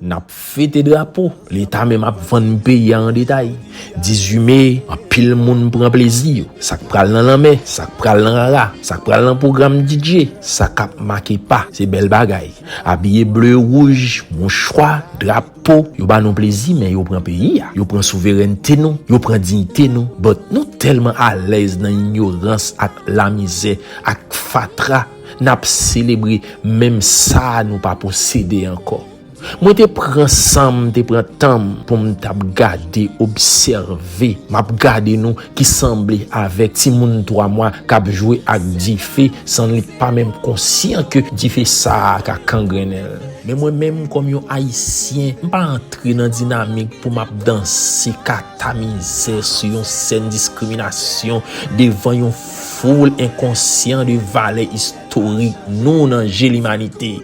N ap fete drapo, Leta menm ap vann peyi a an detay. 18 me, anpil moun pran plezi yo. Sa k pral nan lanmè, sa k pral nan rara, sa k pral nan pwogram DJ, sa k ap make pa, se bèl bagay. Abiye ble, wouj, mouchwa, drapo, yo ba nou plezi men yo pran peyi a. Yo pran souverènte nou, yo pran diyite nou. But nou tèlman alèz nan inyorans ak lamizè ak fatra. N ap selebre menm sa nou pa posede ankò. Mwen te pran san m, m te pran tan m pou m t ap gade, obsève. M ap gade nou ki sanble avèk timoun twa mwa k ap jwe ak dife san li pa menm konsyan ke dife sa a ka kangrennen l. Men mwen menm kòm yon Ayisyen, m pa antre nan dinamik pou m ap danse kata mizè sou yon sèn diskriminasyon devan yon. Foul enkonsyan de valè istorik nou nan je limanite.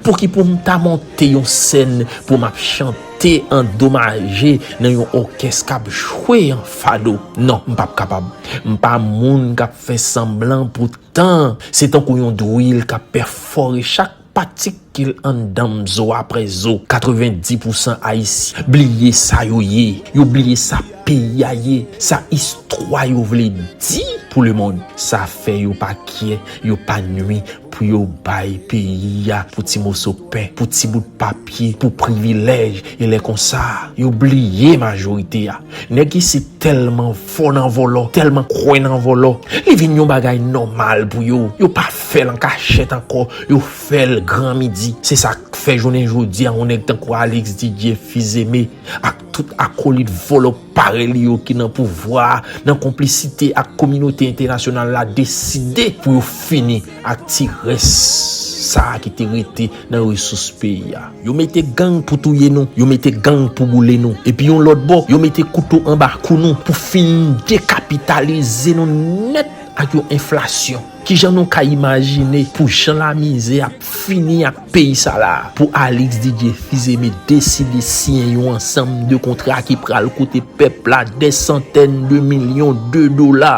Pouki pou m ta monte yon sèn pou m ap chante andomaje nan yon òkès k ap jwe an fado? Non, m pap kapab. M pa moun k ap fè sanblan pou tan. Se tankou yon drill k ap pèfore chak Patikil anndanm zo aprè zo. 90 pousan ayisyen bliye sa yo ye, yo bliye sa peyi a ye, sa istwa yo vle di pou lemond. Sa fè yo pa kyè, yo pa nwi pou yo bay peyi a pou ti moso pen, pou ti bout papye, pou privilèj e lè konsa yo bliye majorite a. Nèg isit tèlman fò nan vòlò, tèlman kwè nan vòlò, li vin yon bagay nòmal pou yo. Yo pa. fèl an kachèt ankò, yo fèl gran midi, se sak fè jounen jodi a yon nèg tankou Alix Didier Fils Aimé ak tout akolit vòlò parèy li yo ki nan pouvwa a nan konplisite ak kominote entènasyonal la deside pou yo fini ak ti rès sa ki te rete nan resous peyi a. Yo mete gang pou touye nou, yo mete gang pou boule nou, epi yon lòt bò yo mete kouto anba kou nou pou fin dekapitalize nou nèt ak yon enflasyon. Kijan nou ka imajine pou jan lamizè ap fini ak peyi sa la a pou Alix Didier Fils-Aimé deside siyen yon ansanm de kontra ki pral koute pèp la dè santèn de milyon de dola?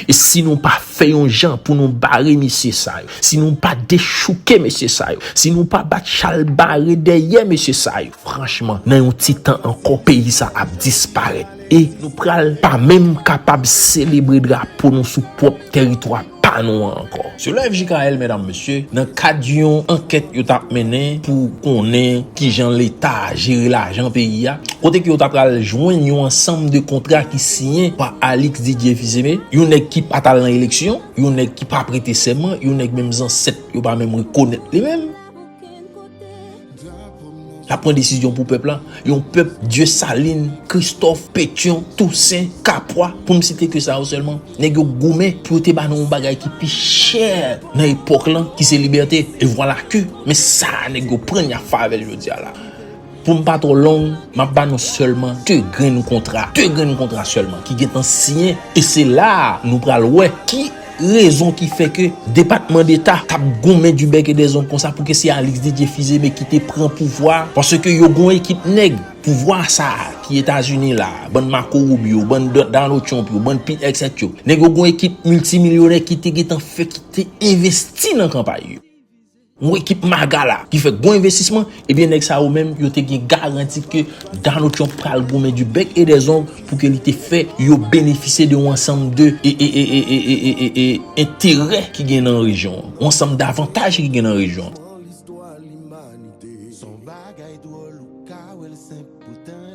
E si nou pa fè yon jan pou nou bare mesye sa yo, si nou pa dechouke mesye sa yo, si nou pa bat chalbare dèyè mesye sa yo, franchman nan yon ti tan ankò peyi sa ap disparèt. E nou pral pa menm kapab selebre drapo nou sou pwòp teritwa pa nou an ankò. Selon FJKL medam mesye, nan kad yon ankèt yo tap mennen pou konnen kijan leta jere lajan peyi a, kote ke yo ta pral jwenn yon ansanm de kontra ki siyen pa Alix Didier Fils-Aimé, yon nèg ki pat al nan eleksyon, yon nèg ki pa prete sèman, yon nèg menm zansèt yo pa menm rekonèt li menm. Lap pran desizyon pou pèp la, yon pèp Dieusaline, Christophe, Petion, Toussaint, Capois, pou m site ke sa yo sèlman, nèg yo goumen pou yo te ba nou yon bagay ki pi chè nan epòk lan ki se libète. E vwala ke, men sa a nèg yo pran y ap fè avè l jodi a la. Pou m pa twò long, m ap ba nou sèlman 2 grenn kontra, 2 grenn kontra sèlman ki gen tan siyen e se la a nou pral wè ki rezon ki fè ke Depatman Deta t ap goumen du bec et des ongles konsa pou ke se Alix Didier Fils-Aimé ki te pran pouvwa a paske yo gen yon ekip nèg pouvwa sa a ki Etazini la a, bann Marco Rubio, bann Donald Trump yo, bann Pete Hegseth yo, nèg yo gen yon ekip miltimilyonè ki te gen tan fè ki te envesti nan kanpay yo. Yon ekip maga la ki fè gwo envestisman, ebyen nèg sa yo menm yo te gen garanti ke Donald Trump pral goumen du bec et des ongles pou ke li te fè yo benefisye de yon ansanm de enterè ki gen nan rejyon an, yon ansanm davantaj ki gen nan rejyon an.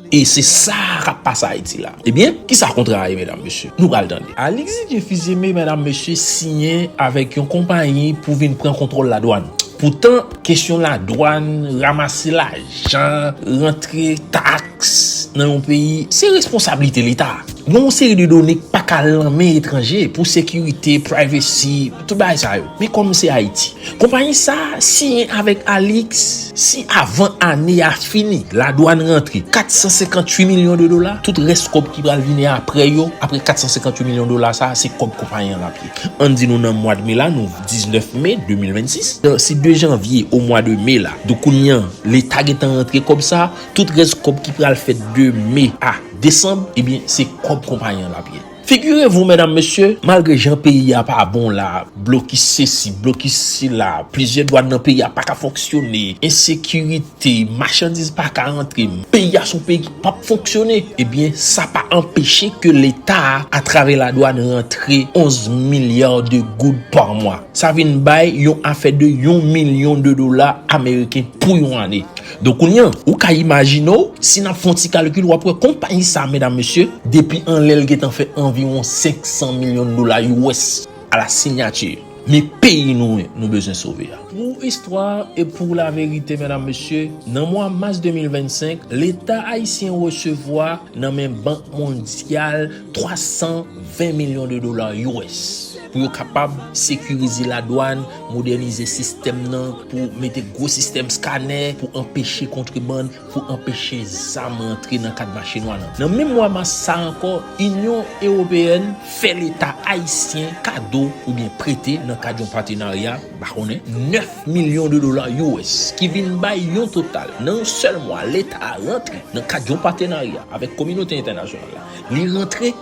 E se sa kap pase Ayiti la. Ebyen, ki sa kontra a ye medam mesye? Nou pral tande. Alix Didier Fils-Aimé medam mesye siyen avèk yon konpayi pou vin pran kontwòl ladwàn. Poutan, kesyon ladwàn, ramase lajan, rantre taks nan yon peyi, se responsablite leta. Gen yon seri de done k paka lanmen etranje pou sekirite, privacy. Tout bagay sa yo. Men kòm se Ayiti. Konpayi sa a siyen avèk Alix si avan ane a fini ladwann rantre 458 milyon de dola, tout rès kòb ki pral vini apre yo, apre 458 milyon dola sa a, se kòb konpayi an l ap ye. Ann di nou nan mwad me la, nou 19 me 2026. Se de janvye o mwa de me la. Donk kounye an, leta gen tan rantre kòb sa a, tout rès kòb ki pral fèt de me a desanm, ebyen se kòb konpayi an l ap ye. Figurez-vous mesdames, messieurs, malgre jan peyi a pa bon la, blokis sesi, blokis sela, plizyè dwàn nan peyi a pa ka fonksyone, ensekirite, machandiz pa ka antre, peyi a son peyi ki pap fonksyone, ebyen sa pa anpeche ke leta a travè ladwàn rantre 11 milliards de goud par mois. Sa vin bay yon afè de yon milyon de dola ameriken pou yon ane. Donk kounya ou ka imajine w, si n ap fè yon ti kalkil w ap wè konpayi sa medam mesye depi anlè l gentan fè anviwon 500 milyon dola US a la sinyati. Men peyi nou an nou bezwen sove a. Pou istwa e pou laverite medam mesye, nan mwa mas 2025 leta ayisyen resevwa nan men bank mondyal 320 milyon de dola US pou yo kapab sekirize ladwàn Modènize sistèm nan pou mete gwo sistèm skanè pou anpeche kontrebann, pou anpeche zam rantre nan kad mache nwa nan. Nan menm mwa mas sa ankò, Inyon Ewopeyèn fè leta ayisyen kado oubyen prete nan kad yon patenarya, m pa konnen, 9 milyon de dola US ki vin bay yon total nan yon sèl mwa leta a rantre nan kad yon patenarya avèk kominote entènasyonal la. Li rantre.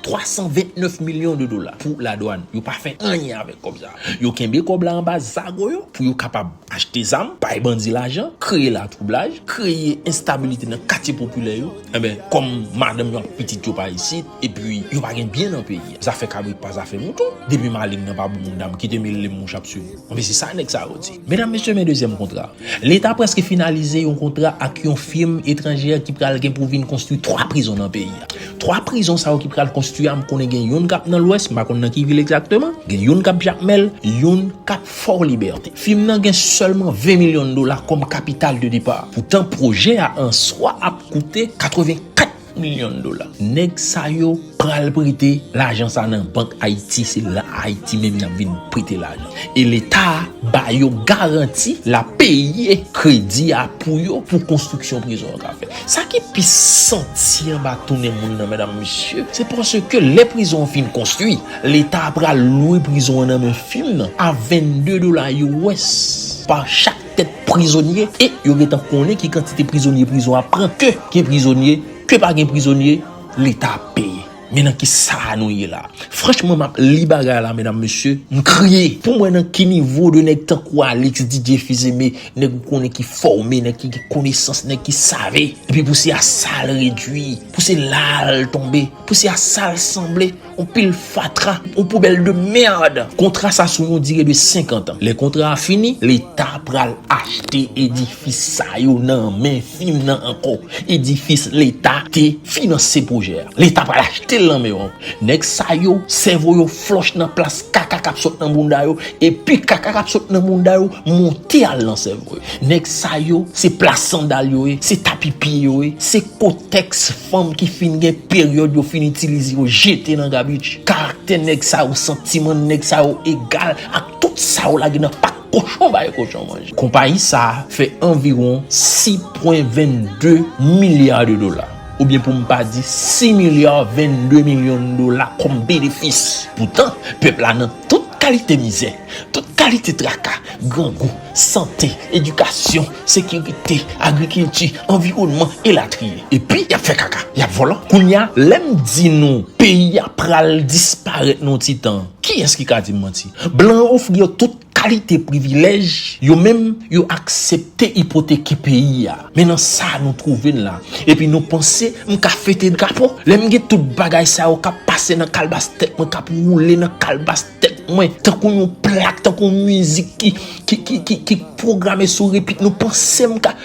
329 milyon de dola pou la dwann. Yo pa fè anyen avèk kòb sa. Yo kenbe kòb la anba zago yo pou yo kapab achte zam, bay bandi lajan, kreye latwoublaj, kreye enstabilite nan katye popilè yo. Enben, kòm madanm yo ak pitit yo pa isit, epi yo pa gen byen nan peyi a. Zafè kabrit pa zafè mouton. Depi maleng nan pa bou moun dam, kite m elem mouche ap swiv ou. Enben se sa nèg sa yo di. Medam mesye men dezyèm kontra. Leta preske finalize yon kontra ak yon firm etranjè ki pral gen pou vin konstwi 3 prizon nan peyi a. 3 prizon sa yo ki pral konstwi a m konnen gen youn kap nan lwès m pa konn nan ki vil egzakteman, gen youn kap jakmèl, youn kap fò libète. Firm nan gen sèlman 20 milyon dola kòm kapital de depa. Poutan pwojè a an swa ap koute 84. milyon dola. Nèg sa yo pral prete lajan sa nan bank Ayiti, se la Ayiti menm y ap vin prete lajan. E leta a ba yo garanti l ap peye kredi a pou yo pou konstriksyon prizon yo ka fèt. Sa ki pi santi anba tounen moun nan medam mesye, se paske lè prizon an fin konstwi, leta a pral lwe prizon an nan men fim nan a 22 dola US pa chak. tèt prizonye e yo gentan konnen ki kantite prizonye prizon ap pran ke gen prizonye ke pa gen prizonye leta ap peye men nan ki sa nou ye la franchman map li bagay la medam mesye m kriye poum wè nan ki nivo de nèg tankou alix didye fizeme nèg ou konnen ki fòme nèg ki gen konesans nèg ki save epi pou se a sal redwi pou se lal tonbe pou se a sal sanble Yon pil fatra, yon poubèl de merd. Kontra sa sou yon dire de 50 an. Lè kontra a fini, leta pral achte edifis sa yo nan men fim nan ankò. Edifis leta te finanse pwojè a. Leta pral achte l nan men yo ankò. Nèg sa yo, sèvo yo flòch nan plas kaka k ap sot nan bounda yo, epi kaka k ap sot nan bounda yo monte al nan sèvo yo. Nèg sa yo, se plas sandal yo ye, se tapi pye yo ye, se kotèks. Fanm ki fin gen peryòd yo fin itilize yo jete nan gabich. Karaktè nèg sa yo, santiman nèg sa yo egal ak tout sa yo lage nan pak kochon bay kochon manje. Konpayi sa a fè anviwon 6.22 milya de dola, oubyen pou m pa di 6 milya 22 milyon dola kòm benefis. Poutan, pèp la nan tout kalite mizè. Tout kalite traka, grangou, sante, edikasyon, sekirite, agrikilti, anviwònman, elatriye. Epi, y ap fè kaka, y ap vòlò. Kounye a, lè m di nou peyi a pral disparèt nan yon ti tan, kiyès ki ka di m manti? Blan yo ofri yo tout kalite privilèj, yo menm, yo aksepte ipoteke peyi a. Men nan sa nou twouve n la. Epi nou panse m ka fete drapo? Lè m gen tout bagay sa yo k ap pase nan kalbas tèt mwen, k ap woule nan kalbas. Tèt mwen tankou yon plak, tankou yon mizik ki pwograme sou repit. Nou panse m ka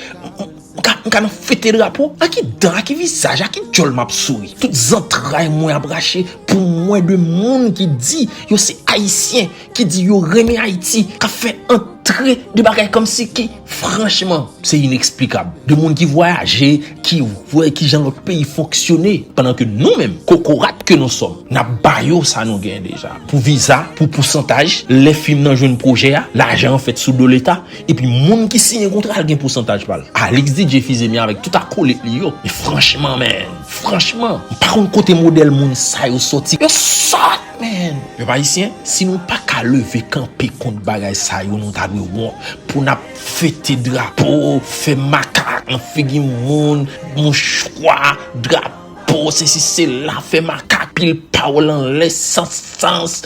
nan fete drapo? A ki dan, a ki vizaj, a ki dyòl m ap souri? Tout zantray mwen ap rache pou mwen de moun ki di yo se Ayisyen, ki di yo renmen Ayiti, k ap fè antre de bagay kòmsi ki. Franchman, se ineksplikab. De moun ki vwayaje, ki wè ki jan lòt peyi fonksyone. Pandan ke nou menm, kokorat ke nou sòm, n ap ba yo sa nou genyen deja. Pou viza, pou pousantaj, lè fim nan jwenn pwojè a, lajan an fèt sou do leta. Epi moun ki siyen kontra a gen pousantaj pa l. Alix DJ Fizeme avèk tout akolit li yo. Men franchman menn, franchman, m pa konn kote modèl moun sa yo sòti. Yo sòt! Amen! Pèp Ayisyen, si nou pa ka leve kanpe kont bagay sa yo nou ta dwe wont pou nap fete drapo, fè makak nan figi moun, mouchwa, drapo, sesi sela, fè makak, pile pawòl anlè san sans.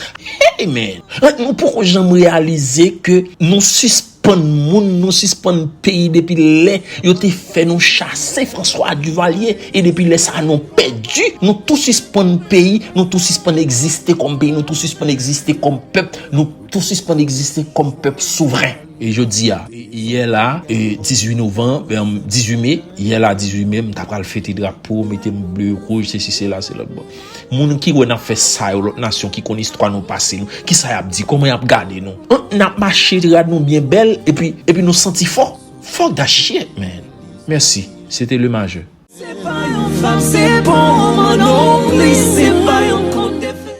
Amen! Like nou poko janm reyalize ke nou sispann. Pann moun nou sispann peyi depi lè yo te fè nou chase François Duvalier e depi lè sa nou pèdi nou tou sispann peyi nou tou sispann egziste kòm peyi nou tou sispann egziste kòm pèp nou tou sispann egziste kòm pèp souvren. E jodi a, yè la 18 novanm, 18 me, yè la 18 me m ta pral fete drapo, mete m ble, wouj, sesi, sela, selòt bon. Moun ki wè nap fè sa yo lòt nasyon ki konn istwa nou pase nou kisa yap di kòman yap gade nou humm nap mache rad nou byen bèl epi epi nou santi fò fuck that shit man merci se te le majeur. Se pa yon fab se pa yon manman non plis se pa yon konte fè.